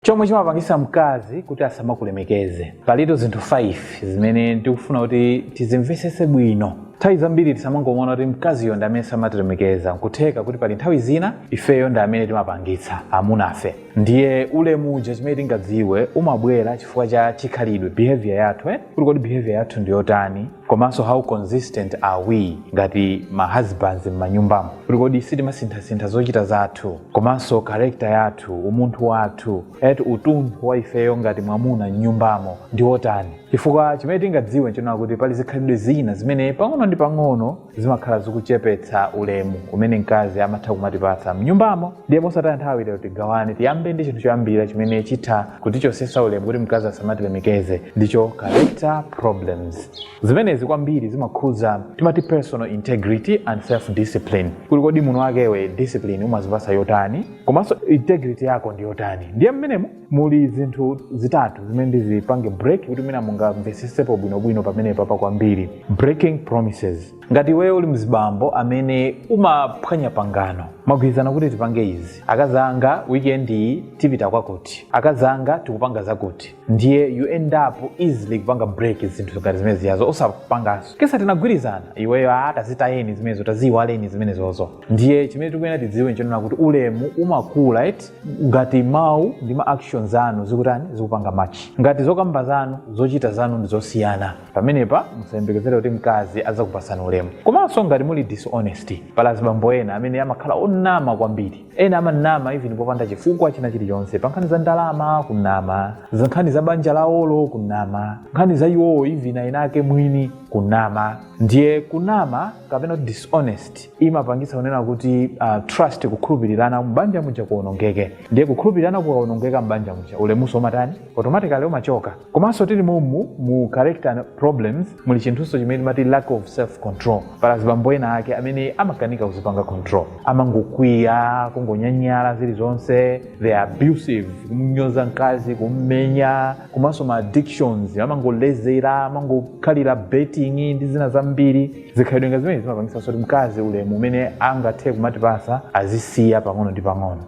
Chomwe chimapangitsa mkazi kuti asamakulemekeze. Palitu zinthu 5 zimene ndikufuna kuti tizimvesese bwino. Nthawi zambiri tisamangomona kuti mkaziyo ndi amene samatilemekeza, nkutheka kuti pali nthawi zina ifeyo ndi amene timapangitsa amunafe. Ndiye ulemu uja chimene tingadziwe umabwera chifukwa cha chikhalidwe, behaviour yathu eti, kuti kodi behaviour yathu ndiyotani. komanso how consistent are we ngati ma husbands m'manyumbamo kuti kodi sitimasinthasintha zochita zathu komanso character yathu umunthu wathu eti utunthu wa ifeyo ngati mwamuna m'nyumbamo ndi wotani chifukwa chimene tingadziwe nchonena kuti pali zikhalidwe zina zimene pang'ono ndi pang'ono zimakhala zikuchepetsa ulemu umene mkazi amatha kumatipatsa m'nyumbamo ndiye mosataya nthawi lero tigawane tiyambe ndi chinthu choyambira chimene chitha kutichosesa ulemu kuti mkazi asamatilemekeze ndicho character problems zimenezi kwambiri zimakhuza timati personal integrity and self discipline kuti kodi mwamuna wakewe discipline umazipasa yotani komanso integrity yako ndi yotani ndiye mmenemo muli zinthu zitatu zimene ndizipange break kuti mwina mungamvesesepo bwinobwino pamenepapa kwambiri breaking promises ngati iweyo uli mzibambo amene umaphwanya pangano magwirizana kuti tipange izi akazi anga weekend iyi tipita kwakuti akazi anga tikupanga zakuti ndiye you end up easily kupanga break zinthu ngati zimenezijazo osapanganso akati nesa tinagwirizana iweyo a tazitayeni zimenezo taziyiwaleni zimenezozo ndiye chimene tikuyenera tidziwe nchonena kuti ulemu umakula eti ngati mawu ndi ma actions anu zikutani zikupanga match ngati zokamba zanu zochita zanu ndi zosiyana pamenepa musayembekezere kuti mkazi azakupasani ulemu komanso ngati muli dishonesty pali azibambo ena amene amakhala onama kwambiri ena amanama even popanda chifukwa china chilichonse pa nkhani za ndalama kunama za nkhani za banja lawolo kunama nkhani za iwowo even aini ake mwini kunama ndiye kunama kapena kuti dishonest imapangitsa kunena kuti uh, trust kukhulupirirana mbanja muja kuonongeke ndiye kukhulupirirana kukaonongeka mbanja muja ulemuso umatani automatically umachoka komanso tili momu mu character problems muli chinthunso chimene timati lack of self control pali azibambo ena ake amene amakanika kuzipanga control amangokwiya kungonyanyala zilizonse they are abusive kumnyoza mkazi kummenya komanso ma addictions amangolezera amangokhalira betting ndi zina zambiri zikhalidwe ngati zimene zimapangitsa kuti mkazi ulemu umene angathe kumatipasa azisiya pang'ono ndi pang'ono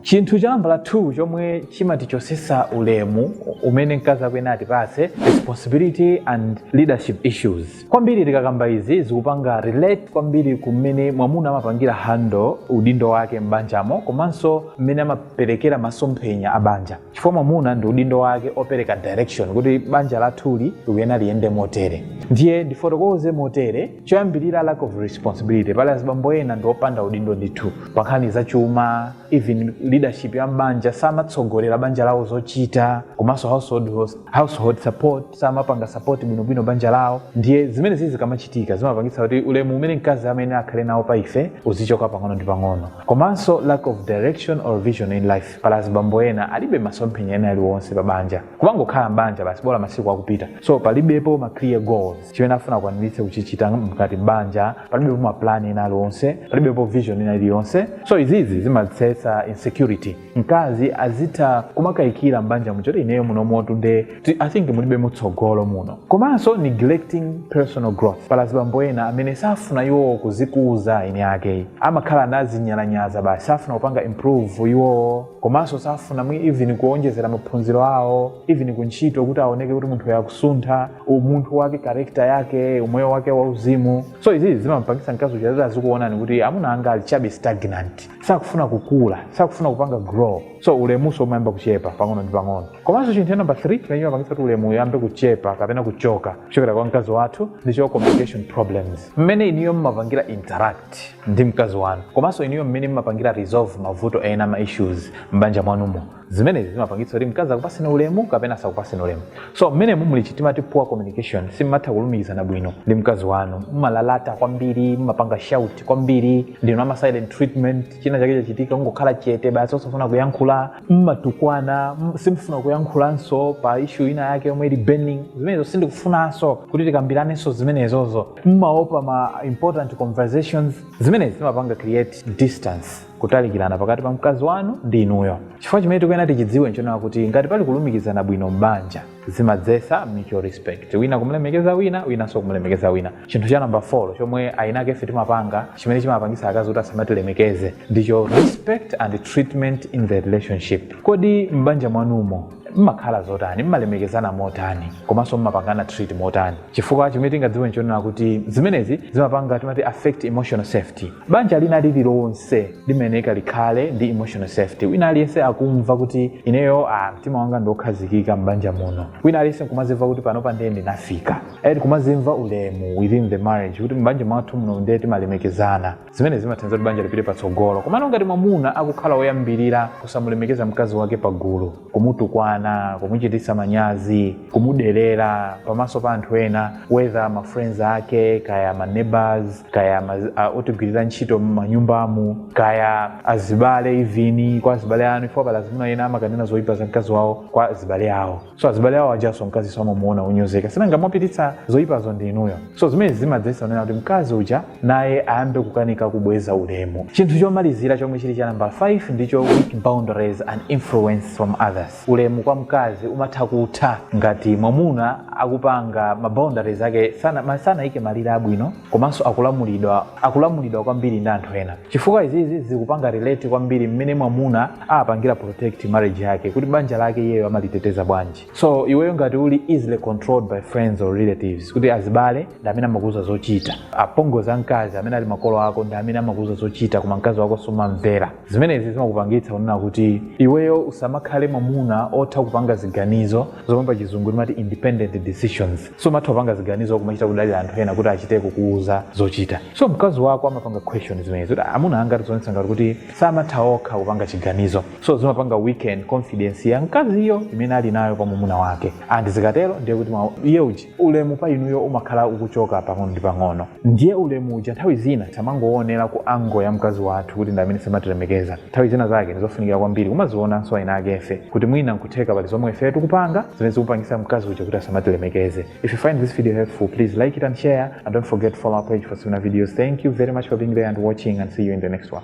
chinthu cha nambala 2 chomwe chimatichosesa ulemu umene mkazi akuyenera atipase responsibility and leadership issues kwambiri tikakamba izi zikupanga relate kwambiri kumene mwamuna amapangira handle udindo wake m'banjamo komanso mmene amaperekera masomphenya a banja chifukwa mwamuna ndi udindo wake opereka direction kuti banja lathuli likuyenera liyende motere ndiye ndifotokoze motere choyambirira lack of responsibility pali azibambo ena ndi opanda udindo ndithu pa nkhani za chuma even leadership ya mbanja samatsogolera banja lawo zochita komanso household, host- household support samapanga support bwinobwino banja lawo ndiye zimenezizi zikamachitika zimapangitsa kuti ulemu umene mkazi amayenera akhale nawo pa ife uzichoka pang'ono ndi pang'ono komanso lack of direction or vision in life pala azibambo ena alibe masomphenya ena aliwonse pa banja kumangokhala m'banja basi bola masiku akupita so palibepo ma clear goals chimene afuna kukwaniritsa kuchichita mkati m'banja palibepo ma plan ena aliwonse palibepo vision ina iliyonse so izizi zimadzetsa insecurity mkazi azitha kumakayikira m'banja muchoti ineyo munomutu nde Ti- i think mulibe mutsogolo muno komanso neglecting personal growth pali azibambo ena amene safuna iwowo kuzikuza eni ake amakhala anazinyalanyaza basi safuna kupanga improve iwowo komanso safuna mwi even kuonjezera maphunziro awo even kuntchito kuti aoneke kuti munthuyu akusuntha umunthu wake character yake umoyo wake wauzimu so izizi zimampangisa mkazi uja ayambe azikuonani kuti amuna anga ali chabe stagnant sakufuna kukula sakufuna kupanga grow so ulemuso umayamba kuchepa pang'ono ndi pang'ono komanso chinthu cha number 3 chimene chimapangitsa kuti ulemu uyambe kuchepa kapena kuchoka kuchokera kwa mkazi wathu ndicho communication problems mmene iniyo mmapangira interact ndi mkazi wanu komanso iniyo mmene mmapangira resolve mavuto ena ma issues m'banja mwanumo zimenezi zimapangitsa kuti mkazi akupaseni ulemu kapena asakupaseni ulemu so mmene mumuli chi timati poor communication simumatha kulumikizana bwino ndi mkazi wanu mumalalata kwambiri mumapanga shout kwambiri ndinu ama silent treatment china chake chachitika mungokhala chete basi osafuna kuyankhula mumatukwana mm, simufuna kuyankhulanso pa issue ina yake yomwe ili burning zimenezo sindikufunanso kuti tikambiranenso zimenezozo mumaopa ma important conversations zimenezi zimapanga create distance kutalikirana pakati pa mkazi wanu ndi inuyo chifukwa chimene tikuyenera tichidziwe nchonena kuti ngati pali kulumikizana bwino m'banja zimadzesa mutual respect wina kumlemekeza wina winanso kumlemekeza wina chinthu cha namba 4 chomwe ayinake ife timapanga chimene chimapangisa akazi kuti asamatilemekeze ndicho respect and treatment in the relationship kodi m'banja mwanumo mmakhala zotani mmalemekezana motani komanso mmapangana treat motani chifukwa chimene tingadziwe nchonena kuti zimenezi zimapanga timati affect emotional safety banja lina lililonse limayenera likhale ndi emotional safety wina aliyense akumva kuti ineyo ah, mtima wanga ndiokhazikika m'banja muno wina aliyense nkumazimva kuti panopa ndiye ndinafika kumazimva ulemu within the marriage kuti m'banja mwathu muno ndiye timalemekezana zimene zimathandiza kuti banja lipite patsogolo komano ngati mwamuna akukhala woyambirira kusamulemekeza mkazi wake pagulu kumutukwana kumuchititsa manyazi kumuderera pamaso pa anthu ena whether ma friends ake kaya ma neighbors kaya ma, uh, otigwirira ntchito m'manyumbamu kaya azibale even kwa azibale anu if pali azimuna ena amakanena zoyipa za mkazi wawo kwa azibale awo so azibale awo ajanso mkazi azimuona onyozeka sinanga mwapititsa zoyipazo ndi inuyo so zimenezi zimadzesa kunena kuti mkazi uja naye ayambe kukanika kubweza ulemu chinthu chomalizira chomwe chili cha namba 5 ndicho weak boundaries and influence from others ulemu kwa mkazi umatha kutha ngati mwamuna akupanga maboundaries ake sana, ma- sanayike malire abwino komanso akulamulidwa akulamulidwa kwambiri ndi anthu ena chifukwa izizi zikupanga relate kwambiri mmene mwamuna apangira protect marriage yake kuti banja lake iyeyo amaliteteza bwanji so iweyo ngati uli easily controlled by friends or relatives kuti azibale ndi amene amakuuza zochita apongozi a mkazi amene ali makolo ako ndi amene amakuuza zochita koma mkazi wako sumamumvera zimenezi zimakupangitsa kunena kuti iweyo usamakhale mwamuna otha kupanga ziganizo zomwe pa chizungu timati independent decisions sumatha kupanga ziganizo kumachita kudalira anthu ena kuti achite kukuuza zochita so mkazi wako amapanga question zimenezi kuti "Ah, amuna anga zikuonetsa ngati kuti samatha okha kupanga chiganizo so zimapanga weaken confidence ya mkaziyo imene ali nayo pa mwamuna wake and zikatero ndiye kuti ma- iye uji ulemu pa inuyo umakhala ukuchoka pang'ono ndi pang'ono ndiye ulemu uja nthawi zina tisamangoonera ku angle ya mkazi wathu kuti ndi amene samatilemekeza nthawi zina zake ndizofunikira kwambiri kumazionanso eni akefe kuti mwina nkutheka pali zomwe ife tikupanga zimene zikupangisa mkazi uja kuti asamatilemekeze if you find this video helpful please like it and share and don't forget to follow our page for similar videos thank you very much for being here and watching and see you in the next one